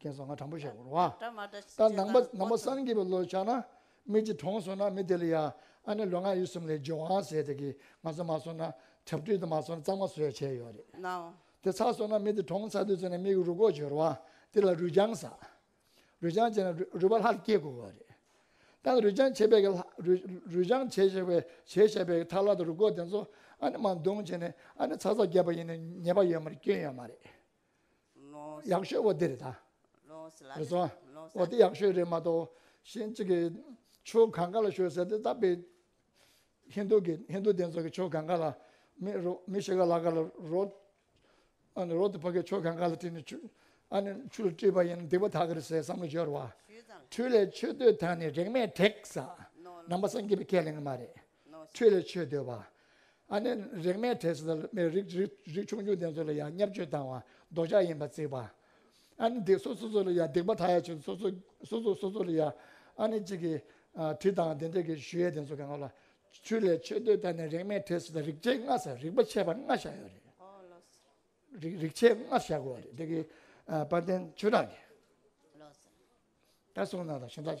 རྒན་བཟང་ང་དྲང་པོ་བཤད་དགོས་རུང་ཨ། ད་ནང་པ་ནང་པ་སངས་རྒྱས་པའི་བློ་ཆགས་ན་མི་གཅིག་གྲོངས་སོང་ན་མི་དེ་ལ་ཡ་ཨ་ནི་ལོ་ང་ཡིད་གསུམ་ལས་ཇོ་ཝང་ཟེར་དེ་གིས་ང་ཚོ་མ་སོང་ན་དྲ་བཀྲུས་དེ་མ་སོང་ན་གཙང་མ་བཟོས་བྱས་ཡོད་རེད་དེ་ཚར་སོང་ན་མི་དེ་གྲོངས་ཚར་དུས་ཚོད་ནས་མི་གི་རུ་ཁོག་བྱོས་རུང་ཨ་དེ་ལ་རུས་ཆང་ཟ། རུས་ཆང་བྱས་ན་རུས་པ་ལྷག་སྐྱེ་དགོས་བ་རེད། ད་ནི་རུས་ཆང་བྱས་པའི་གི་རུས་ཆང་བྱས་བྱས་པའི་བྱས་བྱས་པའི་གི་ཐག་ལྷག་དང་རུ་ཁོག་དེ་ཚོ་ཨ་ནི་མ་འདོང་བྱས་ནས་ཨ་ནི་ཚ་ཚ་རྒྱབ་པ་ཡིན་ནས་ཉེས་པ་ཡོད་མ་རེད་སྐྱོན་ཡོད་མ་རེད། ཡག་ཤོས་བོ་དེ་རེད་ད། རེ་ཟུང་བོ་དེ་ཡག་ཤོས་རེད་མ་གཏོགས་གཞན་གཅིག་གི་ཆོས་གང་ག་ལ་ཤོད་ཟེར་དེ་ལྟ་བུའི་ཧིན་དུ་གི་ཧིན་དུ་དེ་ཚོ་གི་ཆོས་གང་ག་ལ་མི་རོ་མི་ཞིག་ག་ལ་ག་ལ་རོ། ཨ་ནི་རོ་དེ་ཕ་གི་ཆོས་གང་ག་ལ་དྲིས་ནས་ཆུ་ཨ་ནི་ཆུ་ལ་དྲིས་པ་ཡིན་ན་སྡིག་པ་དག་གི་རེད་ཟེར་བསམ་བློ་འབྱོར་བ། འཕྲུལ་ལས་ཆོས་སྡུད་དང་ནི་རེག་མས་དྲེགས། ནང་པ་སངས་རྒྱས་པའི་ཁས་ལེན་གི་མ་རེད། ཆོས་ལས་ཆོས་འདོད་པ། ཨ་ནེ། རེག་མའི་གྲས་སུ་ཐལ། མེ་རིག། རིག་ཆུང་ཆུང་ལྡན་ཚོ་ལ་ཡང་བསྙབ་བཅོས་བཏང་བ་ལྡོག་ཆ་ཡིན་པ་བརྩིགས་པ། ཨ་ནེ། སྡིག་སོགས་སོ་སོ་ལ་ཡང་སྡིག་པ་དག་ཡ་ཆོད་སོ་སོ་སོ་སོ་སོ་ལ་ཡང་ཨ་ནེ་གཅིག་གིས་དྲི་དང་བདེན་འདོད་ཀྱི་ཞུ་ཡས་ལྡན་ཚོ་ག་ང་ལ་ཆོས་ལས་ཆོས་འདོད་ད་ནི་རེག་མའི་གྲས་སུ་ཐལ་རིག་བྱེད་ལྔ་ས་རིག་པ་ཆད་པ་ལྔ་བཞག་ཡོད་རེད། རིག་བྱེད་ལྔ་བཞག་དགོས་རེད་འདི་གི་དཔལ་ལྡན་ཆོས་གྲགས་ཀྱིས་ད་གསུངས་ན་དང་ཞེན་ད།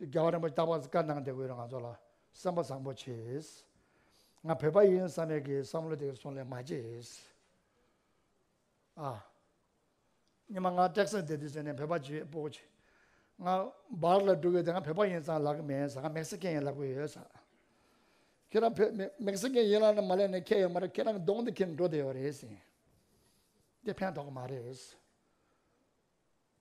རྒྱལ་བ་རིན་པོ་ཆེ་རྟག་པར་བཀའ་གནང་སྟེ་འོས་རེ་ང་ཚོ་ལ་སེམས་པ་བཟང་པོ་བྱེད། ང་བོད་པ་ཡིན་བསམ་མེད་ཀྱི་བསམ་བློ་དེ་སོང་ལེ་མ་བྱེད། ཨ། སྙེ་མ་ང་ཏེག་སཱ་དེ་དུས་ཚོད་ནས་བོད་པ་བྱེད་པོ་བྱེད། ང་འབར་ལ་འགྲོ་གི་དེ་ང་བོད་པ་ཡིན་ཙང་ལབ་གི་མེད་ས་ང་མེག་སི་ཀན་ཡིན་ལབ་གི་ཡོད་ས། ཁྱེད་རང་བོད་མེག་སི་ཀན་ཡིན་ལབ་ནས་མ་ལེན་ནས་ཁྱེད་ཡོད་མ་རེད་ཁྱེད་རང་གི་གདོང་དེ་ཁྱེར་འགྲོ་དེ་ཡོད་རེད་ཟིན། དེ་ཕན་ཐོག་གི་མ་རེད།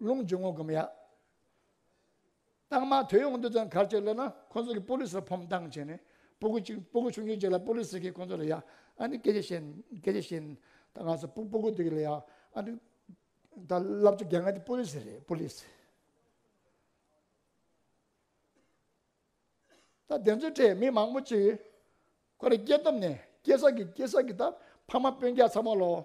རླུང་རྒྱུ་ངོ་གུམ་ཡག། རྟགས་མ་དོད་ཡོང་དུས་ཙང་གར་སྤྱོད་སླེབས་ན་ཁོང་ཚོ་གིས་པོ་ལིས་ལ་ཕོམ་མདངས་བྱས་ནས་སྤུ་གུ་གཅིག་སྤུ་གུ་ཆུང་ཆུང་གཅིག་ལ་པོ་ལིས་ཟེར་གི་ཁོང་ཚོ་ལ་ཡག་ཨ་ནི་སྐད་ཆ་བཤད་སྐད་ཆ་བཤད་ད་ང་ཚོ་སྤུ་གུ་དེ་གི་ལ་ཡག་ཨ་ནི་ད་བསླབ་བྱ་རྒྱ་ནག་དེ་པོ་ལིས་རེད་པོ་ལིས། ད་བདེན་རྫུན་ཁྲེས་མི་མང་པོ་གཅིག་ཁོ་རེ་སྐྱེས་སྟོབས་ནས་སྐྱེས་ས་གི་སྐྱེས་ས་གི་ད་ཕ་མ་སྤུན་རྒྱག་ཚ་མོ་ལོ།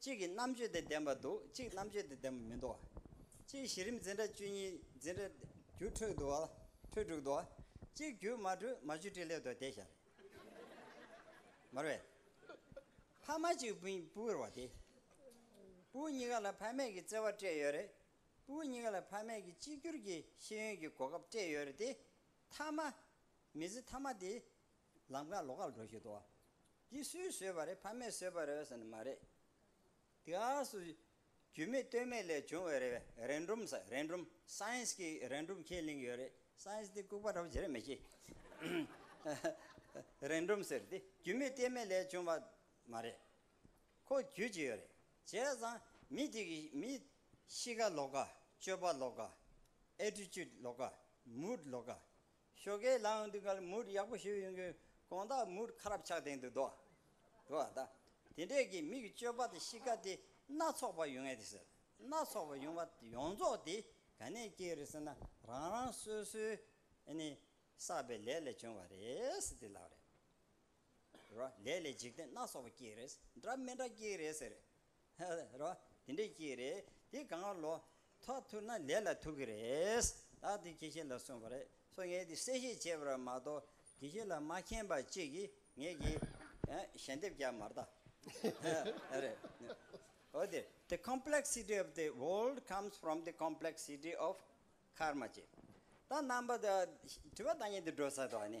གཅིག་གིས་རྣམ་དཔྱོད་དེ་ལྡན་པར་འདུག་གཅིག་རྣམ་དཔྱོད་དེ་ལྡན་པར་མི་འདུག། གཅིག་གཞི་རིམ་འཛིན་གྲྭ་བཅུ་གཉིས་འཛིན་གྲྭ། རྒྱུ་འཕྲོད་འདུག། འཕྲོད་དྲུག་འདུག། གཅིག་རྒྱུ་མ་སྒྲོལ་མ་བཅུ་སྤྲེལ་སླེབས་འདུག་དེ་ཤར། མར་བས། ཕ་མ་གཅིག་པུ་བུར་བ་དེ། པུའུ་གཉིས་ཀ་ལ་ཕ་མེས་ཀྱི་བརྩེ་བ་སྤྲད་ཡོད་རེད། པུའུ་གཉིས་ཀ་ལ་ཕ་མེས་ཀྱི་གཅིག་གྱུར་གྱི་ཤེས་ཡོན་གྱི་གོ་སྐབས་སྤྲད་ཡོད་རེད་དེ། མཐའ་མ། མི་ཚེ་མཐའ་མ་དེ། ལམ་ཁ་ལོག་ཁར་འགྲོ་བཞིན་འདུག། འདི་སུས་བཟོས་པ་རེད་ཕ་མས་བཟོས་པ་རེད་ཟེར་ནི་མ་རེད། དེ་ཨ་སུ། རྒྱུས་མེད་བལྟོས་མེད་ལས་བྱུང་བའི་རེ་འབྲུམ། རེ་འབྲུམ། Science། གི་རེ་འབྲུམ་ཁས་ལེན་གྱི་ཡོད་རེད། Science། འདི་ལྐུགས་པ་འདྲ་བོ་ཇི་རེད་མི་ཤེས། རེ་འབྲུམ་ཟེར་འདི་རྒྱུས་མེད་བལྟས་མེད་ལས་བྱུང་བ་མ་རེད། ཁོ་རྒྱུས་ཀྱི་ཡོད་རེད། བྱས་ཙང་མི་དེ་གི་མི། གཤིས་ཀ་ལོག་ཀ། སྤྱོད་པ་ལོག་ཀ། Attitude ལོག་ཀ། Mood ལོག་ཀ། ཞོ་གས་ལ་འདི་གར་མུར་ཡག་པོ་ཞོས་ཡོང་གིན་གོང་ད་མུར་ཁ་རབ་ཆགས་སྟེང་དུ་འདུག་འདུག་ཨ་ད། དེ་འདྲས་ཀྱི་མིག་གཅོད་པ་དང་གཤིས་ཀ་དེ་སྣ་ཚོགས་པ་ཡོང་ངེས་ཏེ་ཟེར། སྣ་ཚོགས་པ་ཡོང་བ་ཡོངས་རྫོགས་དེ་ག་ནས་སྐྱེས་རེད་ཟེར་ན་རང་རང་སོ་སོའི་ནི་བསགས་པའི་ལས་ལས་བྱུང་བ་རེད་དེ་ལགས། རེད་རོ། ལས་ལས་འཇིག་རྟེན་སྣ་ཚོགས་པ་སྐྱེས་རེད། འདྲ་མི་འདྲ་སྐྱེས་རེད་ཟེར། རེད་རོ། དེ་འདྲའི་གཅིག་རེད། དེ་གང་ལོ། ཐོག་ཐུག་ན་ལས་ལ་ཐུག་གི་རེད། བདག་དེ་ཁྱེད་ཤེས་ལ་གསུངས་པ་རེད། སོ་ངས་དེ་གསལ་བཤད་བྱས་པར་མ་གཏོགས་དེ་ཤེས་ལ་མ་མཁྱེན་པ་གཅིག་གིས་ངེད་ཀྱི། ཞལ་འདེབས་རྒྱག་མ་རྟགས། རེད། འོ་དེ། The complexity of the world comes from the complexity of Karma ཅེས། ད་རྣམ་པ་དེ། དྲི་བ་བདག་ཉིད་དུ་འགྲོ་ས་དོགས་ནི།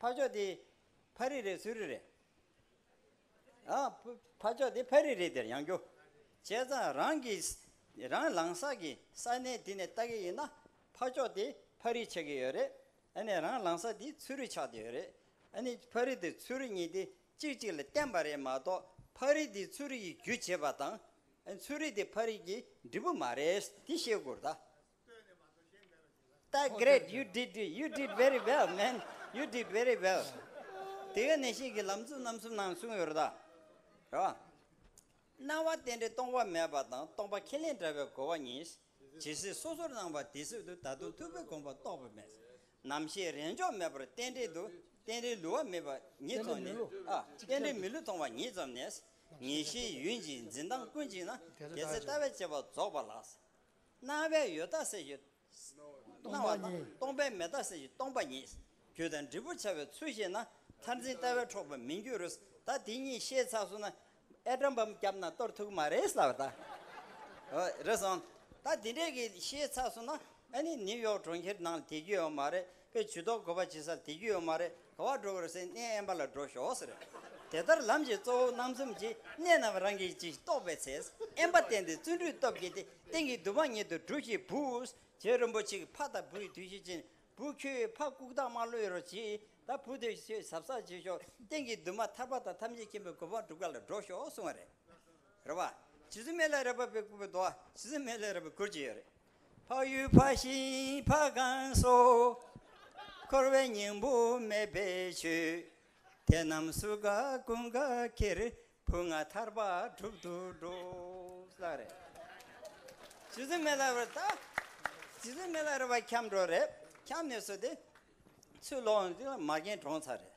ཕ་ཕྱོགས་དེ་ཕ་རི་རེད་སུ་རི་རེད། ཕ་ཕྱོགས་དེ་ཕ་རི་རེད་དེར་ཡང་རྒྱུ། བྱས་ཙང་རང་གི་རང་ལངས་ས་གི་ས་གནས་དེ་ནས་ལྟ་གི་ཡིན་ན་ཕ་ཕྱོགས་དེ་ཕ་རི་ཆགས་ཀྱི་ཡོད་རེད། ཨ་ནི་རང་ལངས་ས་དེ་ཚུ་རི་ཆགས་ཏེ་ཡོད་རེད། ཨ་ནི་ཕ་རི་དེ་ཚུ་རི་གཉིས་དེ་གཅིག་གཅིག་ལ་བརྟེན་པ་རེད་མ་གཏོགས་ཕ་རི་དེ་ཚུ་རི་ཡི་རྒྱུ་བྱེད་པ་དང། ཨ་ནི་ཚུ་རི་དེ་ཕ་རི་གི་འབྲས་བུ་མ་རེད་དེ་ཤེས་དགོས་རེད། ཏཱའི། Great you did it you did very well man you did very well དེ་ག་ནས་ཤེས་ཀྱི་ལམ་གཙུག་རྣམ་གསུམ་ནང་གསུངས་ཡོད་རེད་ད་རེད་བ། སྣང་བ་རྟེན་འབྲེལ་སྟོང་པ་མེད་པ་དང་སྟོང་པ་ཁས་ལེན་བྲལ་བའི་གོ་བ་གཉིས། ཇི་སྲིད་སོ་སོར་སྣང་བ་དེ་སྲིད་དུ་ད་དུང་ཐུགས་ཀྱི་དགོངས་པ་རྟོགས་པ་མེད། ནམ་ཞིག་རེས་འཇོག་མེད་པར་རྟེན་འབྲེལ་དུ་རྟེན་འབྲེལ་ལུས་བ་མེད་པ་ཉིད་མཐོང་ནས་ཨ། རྟེན་འབྲེལ་མི་ལུས་མཐོང་བ་ཉིད་ཙམ་ནས། ངེས་ཤེས་ཡུན་གཅིག་འཛིན་སྟངས་ཀུན་གཅིག་ན། དེ་ཚེ་ལྟ་བའི་བྱེད་པ་རྫོགས་པ་ལགས། སྣང་བའི་ཡུལ་རྟག་གསལ་གྱི། སྣང་བ་དང་སྟོང་པའི་མེད་རྟག་གསལ་གྱི་སྟོང་པ་ཉིད། རྒྱུ་དང་འབྲས་བུར་བྱ་བའི་ཚུལ་ཤེས་ན། མཐར་འཛིན་ལྟ་བས་འཕྲོག་པར་མི་འགྱུར་རོ། ད་དེ་གཉིས་ཤེས་ཚར་སོང་ན། ཨེ་དྲ་འབམ་སྐྱབས་ན་གཏོར་ཐུག་མ་རེད་ཟེར་བ་ལྟར། ཨོ་རེད་སོང། ད་དེ་འདྲས་ཀྱི་ཤེས་ཚར་སོང་ན། ཨ་ནི་ནིའུ་ཡོག་གྲོང་ཁྱེར་ནང་ལ་དེ་རྒྱུ་ཡོད་མ་རེད། པའི་ཇུས་གཏོགས་དགོས་པ་ཇི་སྲིད་དེ་རྒྱུ་ཡོད་མ་རེད་ག་བ་འགྲོ་དགོས་སའི་གནས་དབེན་པ་ལ་འགྲོ་ཞོག་ཟེར། དེ་ལྟར་ལམ་གྱི་གཙོ་བོ་སྣང་གསུམ་གྱིས་གནས་རྣམས་རང་གིས་ཅིག་རྟོགས་པའི་ཚེ་དབེན་པ་བསྟན་ཏེ་བརྩོན་འགྲུས་སྟོབས་བསྐྱེད་དེ་སྟེང་གི་དུ་བ་ཉིད་དུ་གྲུ་བཞི་བུས་རྗེ་རིན་པོ་ཆེའི་ཕ་དང་བུའི་དུས་བཞི་ཅན་བུ་ཁྱོད་ཕ་ལྐུག་རྟགས་མ་ལོས་རོ་གྱིས་ད་བུ་དེ་ཁྱོད་ཟབ་གསག་བྱེད་ཞོག་སྟེང་གི་དུ་མ་ཐར་པ་དང་ཐམས་ཅད་མཁྱེན་པའི་གོ་འཕང་སྒྲུབ་ག་ལ་འགྲོ་ཞོག་གསུང་བ་རེད། རེ་བ། ཇི་སྲིད་མེ་ལས་རེག་པ་པའི་སྐུ་བོའི་མདོ་བ་ཇི་སྲིད་མེ་ལས་རེག་པའི་སྐུར་གྱི་ཡོད་རེད། འཕགས་ཡུལ་འཕགས་ཤིང་འཕགས་གང་སོགས། འཁོར་བའི་སྙིང་པོ་མེད་པའི་ཆོས། དེ་རྣམས་སུ་དགའ་ཀུན་དགའ་ཁྱེར། བུ་ལྔ་ཐར་པ་གྲུབ་ཏུ་འགྲོ། བསླབ་རེ། ཇི་སྲིད་མེ་ལྷ་རེད། ཇི་སྲིད་མེ་ལྷ་རེད་བར་འཁྱམས་འགྲོ་རེད། འཁྱམས་ནས་སུ་དེ། ཚུར་ལོག། མ་རྒན་གྲོངས་ཚར་རེད།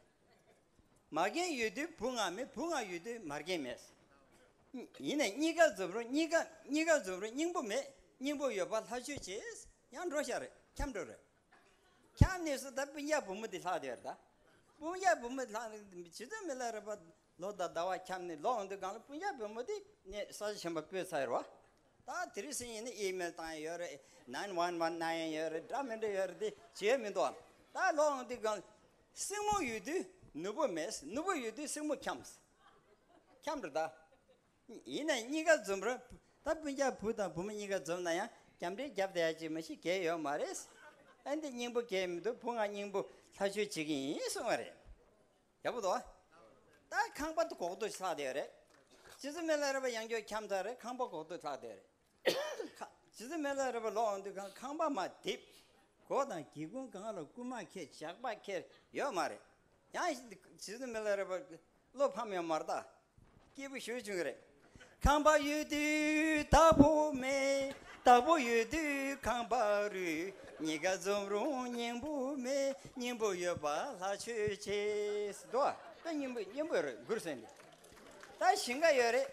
མ་རྒན་ཡོད་དུས་བུ་ང་མེད་བུ་ང་ཡོད་དུས་མ་རྒན་མེད། ཡིན་ནས་གཉིས་ཀ་རྫུབ་རུང་གཉིས་ཀ་གཉིས་ཀ་རྫུབ་རུང་སྙིང་པོ་མེད་སྙིང་པོ་ཡོད་པར་ལྷ་ཆོས་བྱས། ཡང་འགྲོ་ཤག་རེད་འཁྱམས་འགྲོ་རེད། འཁྱམས་ནས་སུ་ད་སྤུན་རྒྱག་བུ་མོ་དེ་ལྷག་དེ་རེད། སྤུན་རྒྱག་བུ་མོ་ལྷག་བྱེད་དུ་མི་ལ་རེད་པ། ལོ་ཟླ་ཟླ་བ་འཁྱམས་ནས་ལོག་འདུག་སྒང་ལ་སྤུན་རྒྱག་བུ་མོ་དེ་ནས་ས་ཆ་ཆེན་པོ་སྤོས་ཚར་ཡོད་པ། ད་དེ་རིང་སིང་ཡིན་ནས་ཨི་མེལ་བཏང་ཡས་ཡོད་རེད་ནན་ཝན་ཝན་གནང་ཡས་ཡོད་རེད་འདྲ་མི་འདྲ་ཡོད་རེད་དེ་བྱེད་ཡས་མི་འདུག་ད་ལོག་འདུག་སྒང་ལ། སྲིང་མོ་ཡོད་དུས་ནུ་བོ་མེད། ནུ་བོ་ཡོད་དུས་སྲིང་མོ་འཁྱམས། འཁྱམས་རེད་ད། ཡིན་ནའི་གཉིས་ཀ་འཛོམས་རུང། ད་སྤུན་ལྕག་བུ་དང་བུ་མོ་གཉིས་ཀ་འཛོམས་ན་ཡང་འཁྱམས་འདྲའི་རྒྱབ་དེ་ཡ་གཅིག་མ་གཅིག་གས་ཡོད་མ་རེད། ཨ་འདི་སྙིང་པོ་གས་མི་འདུག་བུ་ང་སྙིང་པོ་ལྷ་ཆོས་བྱེད་ཀྱི་ཡིན་གསུང་བ་རེད། ཡག་པོ་འདུག་ད་ཁང་པ་འདི་གོག་ཏུ་ལྷག་བསྡད་ཡོད་རེད། སྤྱི་ཟུར་མི་ལ་རེ་བ་ཡང་སྐྱོ་འཁྱམས་ཚར་རེད་ཁང་པ་གོག་ཏུ་ལྷག་བསྡད་ཡོད་རེད། ཇི་སྲིད་མེ་ལ་རེ་བ་ལོག་འོང་དུས་ཁང་ཁང་པ་མ་བརྡིབ། སྒོ་དང་སྒེའུ་ཁུང་གང་ལ་རྐུན་མ་ཁྱེད་ཇག་པ་ཁྱེར་ཡོད་མ་རེད། ཡང་ཇི་སྲིད་མེ་ལ་རེ་བ་བློ་ཕམ་ཡང་མར་བརྟག། སྐྱིད་པོ་བཞུར་བྱུང་གི་རེད། ཁང་པ་ཡོད་དུས་བདག་པོ་མེད། བདག་པོ་ཡོད་དུས་ཁང་པ་རུལ། གཉིས་ཀ་འཛོམས་རུང་སྙིང་པོ་མེད། སྙིང་པོ་ཡོད་པ་ལྷ་ཆོས་ཆེ། འགྲོ་བ་སྙིང་པོ་ཡོད་རེད་མགུར་གསོལ་འདི་ལྟར་བཞིན་ག་ཡོད་རེད།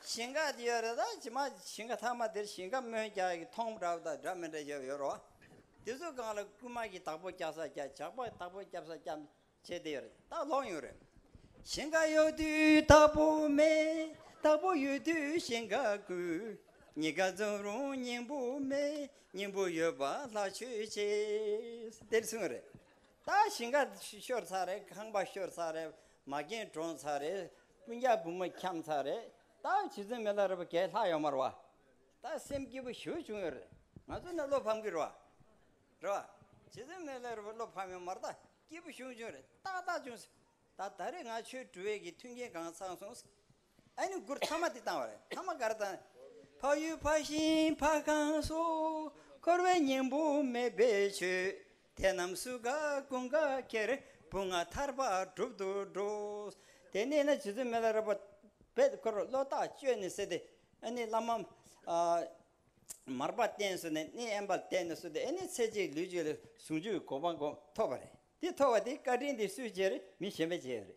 ཞིང་ཁ་དེ་ཡོད་རེད་ད་ཇི་མ་ཇི་ཞིང་ཁ་ཐ་མ་དེར་ཞིང་ཁ་མོན་རྒྱ་ཡི་ཐོང་འདྲ་བོ་དང་འདྲ་མི་འདྲ་བྱས་པ་ཡོད་རོ། དེ་ཚོའི་སྒང་ལ་རྐུན་མ་གྱི་བདག་པོ་སྐྱག་ས་སྐྱག་ཇག་པ་བདག་པོ་སྐྱབས་ས་སྐྱམས་བྱས་དེ་ཡོད་རེད་ད་ལོག་ཡོད་རེད། ཞིང་ཁ་ཡོད་དུས་བདག་པོ་མེད་བདག་པོ་ཡོད་དུས་ཞིང་ཁ་རྐུས། གཉིས་ཀ་འཛོམས་རུང་སྙིང་པོ་མེད་སྙིང་པོ་ཡོད་པ་ལྷ་ཆོས་བྱེད། དེར་གསུངས་ཡོད་རེད་ད་ཞིང་ཁ་ཤོར་ཚར་རེད་ཁང་པ་ཤོར་ཚར་རེད་མ་རྒན་གྲོངས་ཚར་རེད། སྤུན་ཆགས་བུ་མོ་ཁྱམས་ཚར་རེད་ད་ཇི་ཙམ་མི་ལ་རེ་བ་གས་ལྷག་ཡོད་མར་བ་ད་སེམས་སྐྱིད་པོ་ཞུ་བྱུང་ཡོད་རེད་ང་ཚོ་ནས་བློ་ཕམ་གི་རེ་བ་རེད་བ་ཇི་ཙམ་མི་ལ་རེ་བ་བློ་ཕམ་ཡོད་མར་ད་སྐྱིད་པོ་ཞུ་བྱུང་རེད་ཏག་ཏག་བྱུང་སོང་ད་ད་རེས་ང་ཆོས་སྒྲུ་བས་ཀྱི་མཐུན་རྐྱེན་གང་ཚང་སོང་སོང་ཨ་ནི་མགུར་མཐའ་མ་དེ་བཏང་བ་རེད་མཐའ་མ་ག་རེ་བཏང་ཕ་ཡུལ་ཕ་ཞིང་ཕ་ཁང་སོགས་འཁོར་བའི་སྙིང་པོ་མེད་པའི་ཆོས་དེ་རྣམས་སུ་དགའ་ཀུན་དགའ་ཁྱེར་བུ་ང་ཐར་པ་བསྒྲུབ་ཏུ་འགྲོ། དེ་ནས་ན་རྗེ་བཙུན་མི་ལ་རོལ་པ་པད་དཀར་བློ་རྟགས་བཅོས་ནས་བསད་དེ། ཨེ་ནི་བླ་མ། མར་པ་བསྟེན་གསོལ་ནས་ནི་ཨེ་འབར་བསྟེན་ནས་གསོལ་ཏེ་ཨེ་ནི་ཚེ་གཅིག་ལུས་གཅིག་ལ་ཟུང་འཇུག་གི་གོ་འཕང་ཐོབ་པ་རེད་དེ་ཐོབ་པ་དེ་བཀའ་དྲིན་དེ་སུས་བྱས་རེད་མི་གཞན་པས་བྱས་ཡོད་རེད།